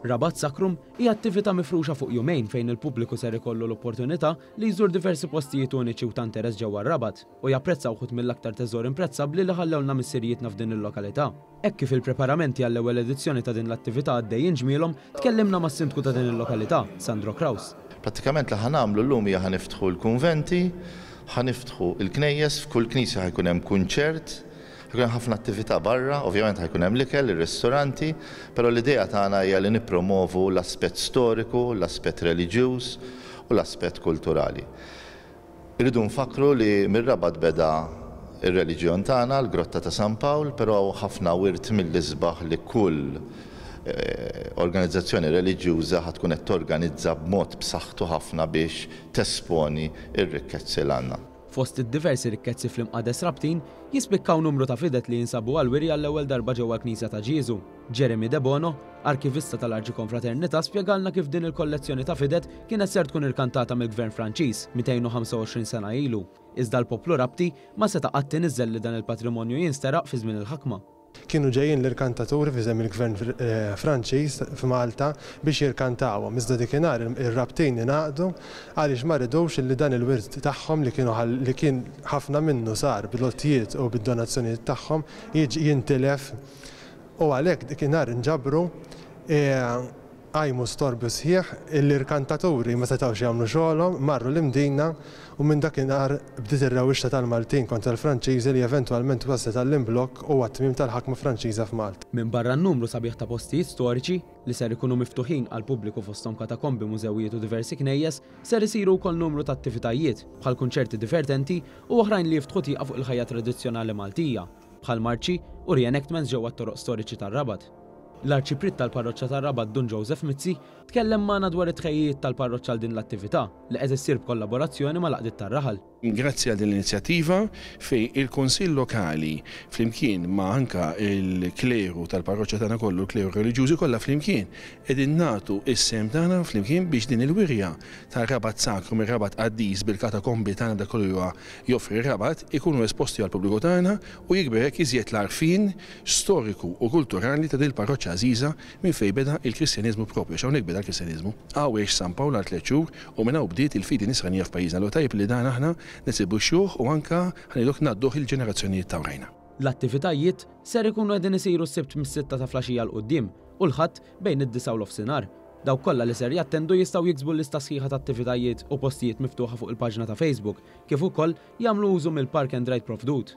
Rabat Sakrum hi attività mifruxa fuq jumejn fejn il-pubbliku ser ikollu l-opportunità li jżur diversi postijiet uniċi u ta' interess ġewwa Rabat u japprezza wħud mill-aktar teżor imprezzabbli li ħallewlna missirijietna f'din il-lokalità. Hekk kif il-preparamenti għall-ewwel edizzjoni ta' din l-attività għaddejjin ġmielhom, tkellimna mas-Sindku ta' din il-lokalità, Sandro Kraus. Prattikament li ħa nagħmlu llum hija ħa niftħu l-kunventi, ħa niftħu l-knejjes, f'kull knisja ħa jkun hemm kunċert, ħa jkun hemm ħafna attività barra, ovvjament ħa jkun hemm l-ikel, ir-ristoranti, però l-idea tagħna hija li nippromovu l-aspett storiku, l-aspett reliġjuż u l-aspett kulturali. Irridu nfakkru li mir-Rabat beda r-reliġjon tagħna, l-Grotta ta' San Pawl, però hawn ħafna wirt mill-isbaħ li kull organizzazzjoni reliġjuża ħa tkun qed torganizza b'mod b'saħħtu ħafna biex tesponi r-rikkezzi l-għandna. Fost id-diversi rikkezzi fl-Imqades Rabtin, jispikkaw numru ta' fidet li jinsabu għall-wirja l-ewwel darba ġewwa l-Knisja ta' Ġieżu. Jeremy Debono, Arkivista tal-Arċikonfraternità spjegalna kif din il-kollezzjoni ta' Fidet kienet ser tkun irkantata mill-Gvern Franċiż 225 sena ilu, iżda l-poplu Rabti ma seta' qatt iniżżel li dan il-patrimonju jinsteraq fi żmien il-ħakma. Kienu ġejjin l-irkantaturi f'isem il-Gvern Franċiż f'Malta biex jirkantawhom, iżda dikinhar ir-Rabtin ingħaqdu għaliex ma ridux li dan il-wirt tagħhom li kienu li kien ħafna minnu sar bl-għotjiet u bid-donazzjonijiet tagħhom jiġi jintilef U għalhekk dikinhar inġabru e qajmu storbju sħiħ illi rkantaturi ma setgħux jagħmlu xogħolhom, marru l-Imdina u minn dakinhar bdiet ir-rewwixta tal-Maltin kontra l-Franċiżi li eventwalment waslet għall-imblokk u għat-tmiem tal-ħakma Franċiża f'Malta. Minbarra n-numru sabiħ ta' postijiet storiċi li ser ikunu miftuħin għall-pubbliku fosthom katakombi, mużewijiet u diversi knejjes, ser isiru wkoll numru ta' attivitajiet, bħal kunċerti divertenti u oħrajn li jiftħu tieqa fuq il-ħajja tradizzjonali Maltija. bħal marċi u re-enactments ġewwa t-toroq storiċi tar-Rabat. L-Arċipriet tal-Parroċċa tar-Rabat Dun Joseph Mizzi tkellem magħna dwar it-tħejjijiet tal-parroċċa għal din l-attività li qed issir b'kollaborazzjoni mal-Għaqdiet tar-Raħal. Grazzi għal din l-inizjattiva fejn il-Kunsill Lokali flimkien ma' anke l-kleru tal-parroċċa tagħna kollu, l-kleru reliġjużi kollha flimkien qegħdin nagħtu s-sehem tagħna flimkien biex din il-wirja tar-Rabat Sakru mir-Rabat Qaddis bil-katakombi tagħna dak kollu li huwa joffri r-Rabat ikunu esposti għall-pubbliku tagħna u jikber hekk iżjed l-għarfien storiku u kulturali ta' din il-parroċċa għażiża minn fejn beda l-Kristjaniżmu proprju għax hawnhekk beda l-Kristjaniżmu. Hawn għex San Pawl għal tliet xhur u minn hawn bdiet il-fidi nisranija f'pajjiżna allura tajjeb li dan aħna nesibuxxuh u anke ħa ngħidu hekk ngħadduh il-ġenerazzjonijiet ta' wrajna. L-attivitajiet ser ikunu qegħdin isiru s-Sibt mis-sitta ta' flaxija 'l quddiem u l-Ħadd bejn id-disgħa u nofsinhar. Dawk kollha li ser jattendu jistgħu jiksbu l-lista sħiħa ta' attivitajiet u postijiet miftuħa fuq il-paġna ta' Facebook kif ukoll jagħmlu użu mill-park and ride provdut.